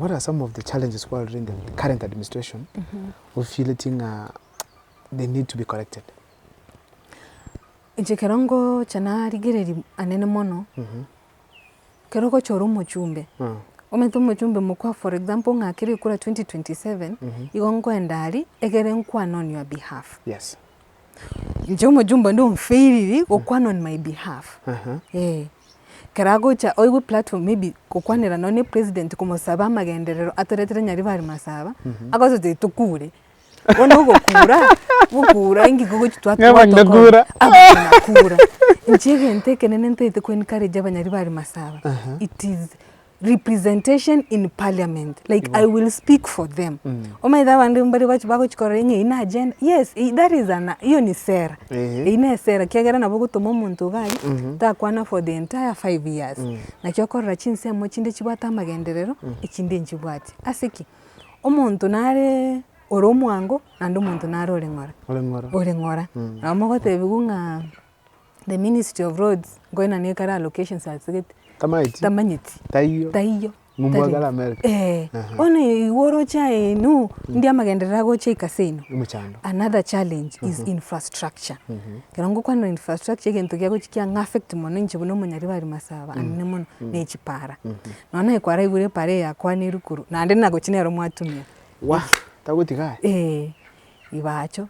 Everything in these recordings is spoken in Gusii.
What are some of the challenges while in the current administration ofiletie ng'a they need to be corrected? Inche ekero ngocha narigereria anene mono, ekero ogocha ore omochumbe, omanyete omochumbe mokwa for example ng'a kere ekura 2027, igo nkoenda aria egere nkwane on your behalf. Yes. Inche omochumbe onde onfailiri gokwana on my behalf. Eeh. Ekero agocha oigwe platform maybe gokwanera nonye ne president komosaba amagenderero atoretire Nyaribari Masaba, agosote tokure. Bono ogokura, gokura inki kogochi twa- Ng'a abanyina kura. abanyina kura. Inche egento ekenene ntaete ko encourage Abanyaribari Masaba, it is. representation in parliament like Igo. i will speak for them mm. omanyete abande mbare bachi bagochikorera ing'e ina agenda yes that is an hiyo ni sera mm -hmm. ina esera kiagera nabo gotoma omonto gari mm -hmm. takwana for the entire five years mm. nakio okorora chinsemo chinde chibwate amagenderero mm. echinde nchibwati ase ki omonto nare ore omwango naende omonto nare ore ng'ora ore ng'ora mm. nabo mogotebiwa ng'a The ministry of roads nkoina nigo ekare allocations asegete Tamaeti. tamanyeti Taiyo. taiyo Ng'umbu Tari- agare America. Eh, Aha. bono igo oroche aye inu ndi amagenderero agocha ikase ino Emochando. another challenge is infrastructure ekero ngokwanera infrastructure egento giagochia kiang'a affect mono inche buna omonyari bari masaba anene mono na echipara nonya naye kwaraigure epara eye yakwanirwe korwa naende nagochia nero mwatumia Wah, tagotiga aye. Eh, ibacho.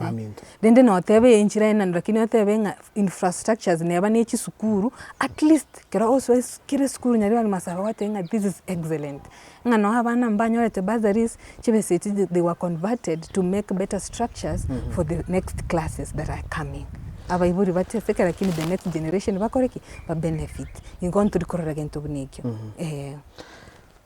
baminto. Rende noteba enchera enene lakini otebe ng'a infrastructures neba ne chisukuru at least kero osoe kera esukuru nyarebe ande masaaba gwoteba ng'a this is excellent. Ng'a nonya abana mbanyorete bursaries chibe eseti they were converted to make better structures for the next classes that are coming. Abaibori bateseke lakini the next generation bakore ki? Ba benefit. Nigo ntori korora egento buna ekio, eeh.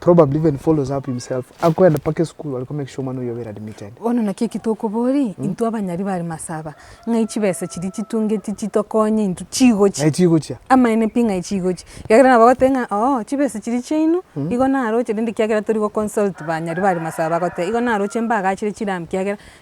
probably even follows up himself akoenda mpaka esukuru are ko make sure omwana oyio obeire admitted. Bono naki eki tokoboria intwe abanyari bare masaba, ng'ai chibesa chiria chitungeti chitokonye intwe chigochia? Ng'ai chigochia? Amaene pi ng'ai chigochia? Ekiagera nabo bagoteba ng'a oo chibesa chiria chiaino igo naroche rende ekiagera tori goconsult banyari bare masaba bagoteba igo naroche mbaagachire chiramu ekiagera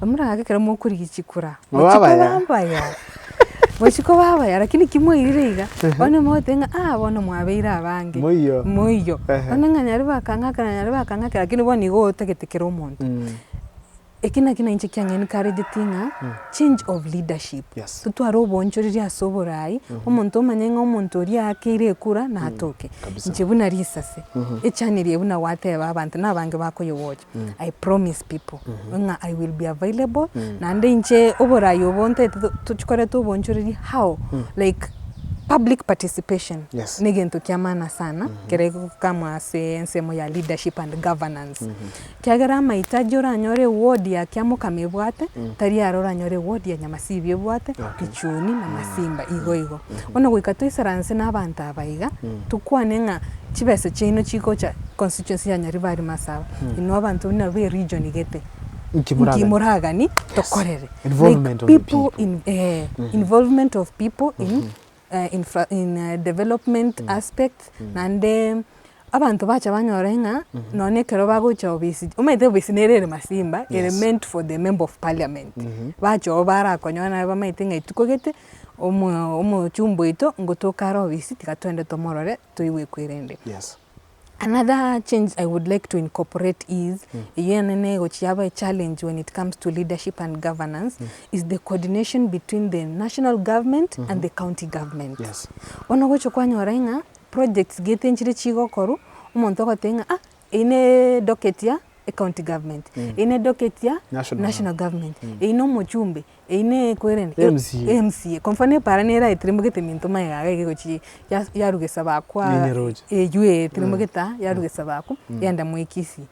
Bamorake ekero mokorigia chikura. Gochia koba mbaya. Gochia koba mbaya lakini ki mwairire iga, bono mogotebi ng'a ah bono mwabeire abange. Moiyo. Moiyo. Onde ng'a nyare bakang'ake na nyare bakang'ake lakini bono igo otagete kera omonto. Eki nakio na inche kiang'ai nkarigeti ng'a change of leadership. Yes. Totware obonchoreri ase oboraai, omonto omanye ng'a omonto oria aakeire ekura natoke. Kabisa. Inche buna risase, echaniri eye buna gwateba abanto nabange bakoyewocha. I promise people ng'a I will be available naende inche oborayi obo ntaete tokorete obonchoreria how like public participation Yes. ne egento kia maana sana ekero egokamwa ase ensemo ya leadership and governance ekiagera amahitaji oranyore eward ya Kiamokama ebwate tari aro oranyore eward ya Nyamasibi ebwate, Kichuni na Masimba igo igo. Bono goika toisaranse na abanto aba iga tokwane ng'a. chibesa chiaino chigocha constituency ya Nyaribari Masaba, inwe abanto buna be region gete, Inki moragani? inki moragani tokorere? Involvement of the people. in, eh, involvement of people in, eh, infra, in eh, development aspects naende abanto bacha banyore ng'a nonye ekero bagocha obisi omanyete obisi nere ere masimba ere meant for the member of parliament bacha oo barakonyora naye bamanyete ng'a etuko gete omo omochumba oito ngotoka are obisi tiga twende tomorore toigwe ekwerende. Yes. Another change I would like to incorporate is eyio ene negochia aba echallenge when it comes to leadership and governance is the coordination between the national government and the county government. Yes. Bono ogochia kwanyora ng'a projects gete nchire chigokorwa omonto ogoteba ng'a ah eyio ne edocket ya ecounty government, eyio ne edocket ya National. national government, eyio nomochumbe Eyio ne ekwere emsie. Emsie. Kwa mfano epara nere aeteremogete minto maye gaga egegochie ya yarugesa bakwa. Nenyeroche. Eyio ee eteremogete aa yarugesa bakwa yenda moikisi.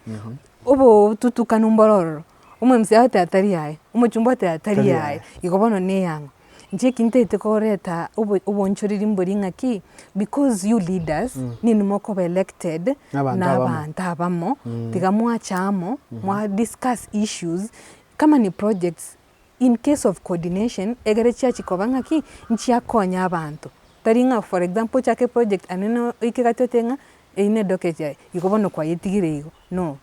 Obo otutukanu mboro ororo, omwemisia agote atari yaye, omochumba ote atari yaye, igo bono ne eyang'o. Inche eki ntaete koreta obo obonchoreri mbori ng'aki, because you leaders, ninwe mokoba elected nabanto abamo, tiga mwacha amo, mwa discuss issues. Company projects, in case of coordination, egere chiachie koba ng'aki, nchiakonya abanto. Tari ng'a for example ochake eproject ande na oike gati ote ng'a eyio nedocket yaye, igo bono kwayetigire igo, no.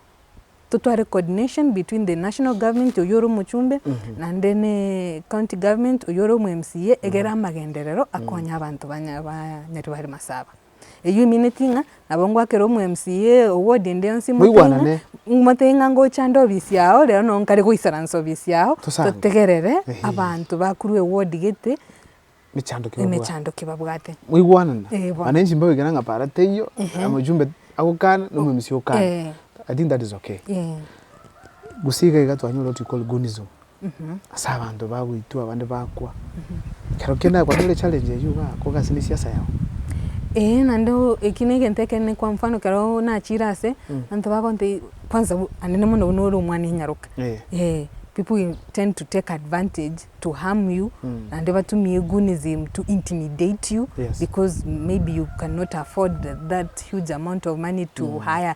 Totware coordination between the national government oyio ore omochumbe, naende ne county government oyio ore omoMCA, egere amagenderero akonye abanto banyare bare masaaba. Eyio omineti ng'a nabo ngwakere omw'MCA oward ende yonsi mote ng'a Moigwanane. mote ng'a ngochande obisi yao rero no nkare goisara nse obisi yao Tosande. totegerere Ehe. abanto bakorwa eward gete Mechando ki babwate. emechando ki babwate. Moigwanane. Eh, bono. Mana enchimba goikera ng'a para teiyo, omojumbe agokana, na omw'MCA okane. Eh. I think that is okay. Eh. Gose iga iga twanyora what we call goonism. ase abanto bagoitwa abande bakwa. Ekero kende nabo kwarenge challenge eyio igaa kogasi ne siasa yao. Eeh naende oo ekio ne egento ekenene kwa mfano ekero nachire ase, abanto bagontebia kwanza bu anene mono buna ore omwana enyaroka, eeh people will tend to take advantage to harm you naende batumie gunism to intimidate you because maybe you cannot afford that huge amount of money to hire.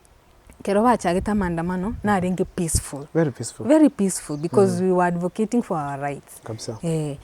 kero bachagete amaandamano narenge peaceful, Very peaceful. very peaceful because we were advocating for our rights. Kabisa. Eh,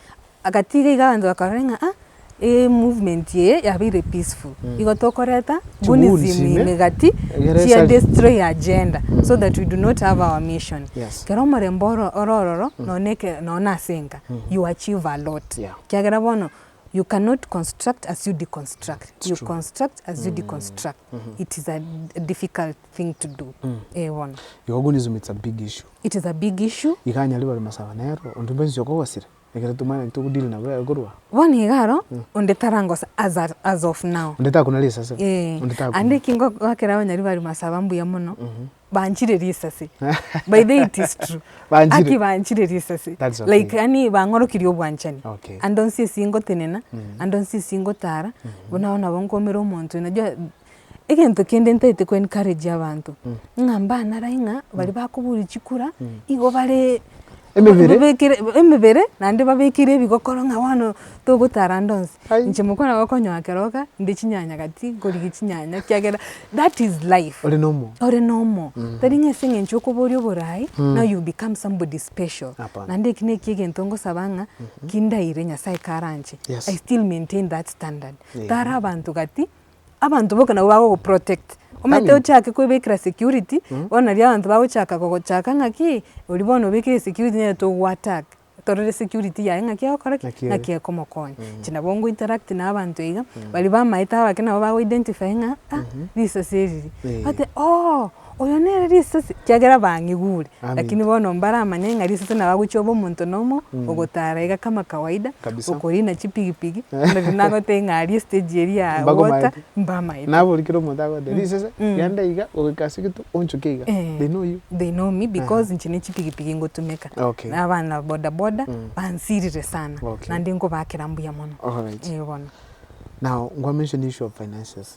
agatiga iga abanto bakarora ng'a ah, eh, movement eye yabeire peaceful. Igo tokoreta Chiwuuni bunism chime, ime gati egere chia esari. destroy agenda so that we do not have our mission. Yes. Kero omorembe oro ore ororo nonye na eke- nonye na ase enka you achieve a lot. Yeah. Kiagera bono you cannot construct as you deconstruct. You true. construct as you deconstruct. it is a difficult thing to do. Eh, bono. Egogunism it's a big issue. It is a big issue. Iga anyare bare masaba nero, onde bwensi okogosire, ekero tomanyeti togodeal nabo yaye korwa aa. Bono iga aro, onde tarangosa as at, as of now. Onde takuna risase. Eh, Onde takuna. ande eki ngogoakera abanyari bare masaba mbuya mono, banchire risasi by the way it is true Banchire? aki banchire risasi That's okay. like yani bang'orokirie obwanchani Okay. ande onsi esi ngotenena ande onsi esi ngotara buna bono nabo nkomera omonto najua egento kende ntaete ko encourage abanto ng'a mbanarae ng'a bari bakobori chikura igo bare Emebere. Babekire emebere naende babekire ebigokoro ng'a bono togotara ande onsi. Ai. Inche mokwana gokonyoa keroka inde chinyanya gati nkorigia chinyanya ekiagera that is life. Ore na omo. Ore na omo. Tari ng'a ase eng'encho okoboria oboraai, now you become somebody special. Hapana. Naende eki na ekiya egento ngosaba ng'a, ki ndaire Nyasae karanche, Yes. I still maintain that standard. Amen. Tara abanto gati. Abanto boka nabo bagogoprotect, omanyete Aye. ochake kwebekera security, bono nario abanto bagochaka gogochaka ng'aki, oria bono obekire security nere togo attack, torore security yaye ng'aki egokora ki? Ng'aki ere. ng'aki ekomokonya. Inche nabo nko interact na abanto iga, baria bamaete abake nabo bago identify ng'a ah, risasi eri ri, Eh. bate ooh. Oyo nere risasi, ekiagera bang'igure. Lakini bono mbaramanye ng'a risasi nabo agochia obe omonto nomo ogotara iga kama kawaida, okorina chipigipigi, onde riria nagotebia ng'a aria estage eria aa water, mbamaete. Nabo oria kera omonto agoteba, risasi, genda iga, goika ase egetuo, onchoke iga, they know you. They know me because inche nechipigipigi ngotumeka. Na abana bodaboda, bansirire sana, naende nkobaakera mbuya mono. Alright. Eeh bono. Now, nkwa mention issue of finances.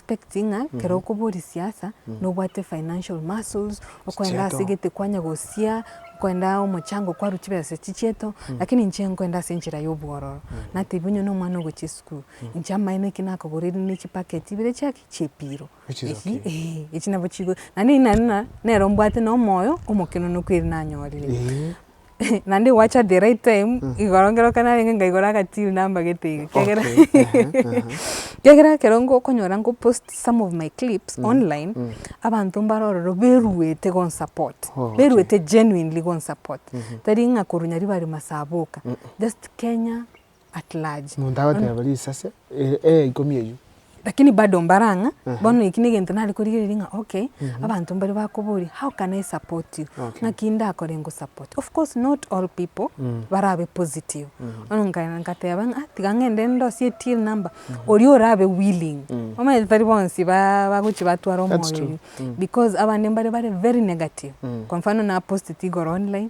expect ng'a kero okoboria siasa nobwate financial muscles, okoenda ase Chieto. egete kwanya gosia, okoenda omochango kwarwa chibesa chichieto, lakini inche nkoenda ase enchera ya obwororo. Natebia onye na omwana ogochia esukuru, inche amaene eki nakogoreire ne chipacket ibere chia ki? Chia epiro. Which is Echi- okay. eeh, echi nabo chigo, naende naende na- nere ombwate na omoyo omokeno nokweri nanyorire. Eeh. Naende gwacha the right time, igoro ekero narenge nkaigora agatiiri nambagete iga, ekiagera ekiagera ekero okonyora nko post some of my clips online, abanto mbare ororo beruete ko support, beruete genuinely ko support, tari ng'a korwa nyaribari masaboka, just Kenya. at large. Monto agoteba risase ere eya ikomi eyio. Lakini bado mbare ang'a, Aha. bono eki negento nare korigereria ng'a okay, abanto mbare bakoboria how can I support you? Okay. Naki ndakore ngosupport. Of course not all people barabe positive. Bono nka- nkateba ng'a tiga ng'ende ndosie till number, oria orabe willing. Omanyete tari bonsi ba- bagochi batwara That's omoyo true. oyio, because abande mbare bare very negative. Kwa mfano napost tigoro online,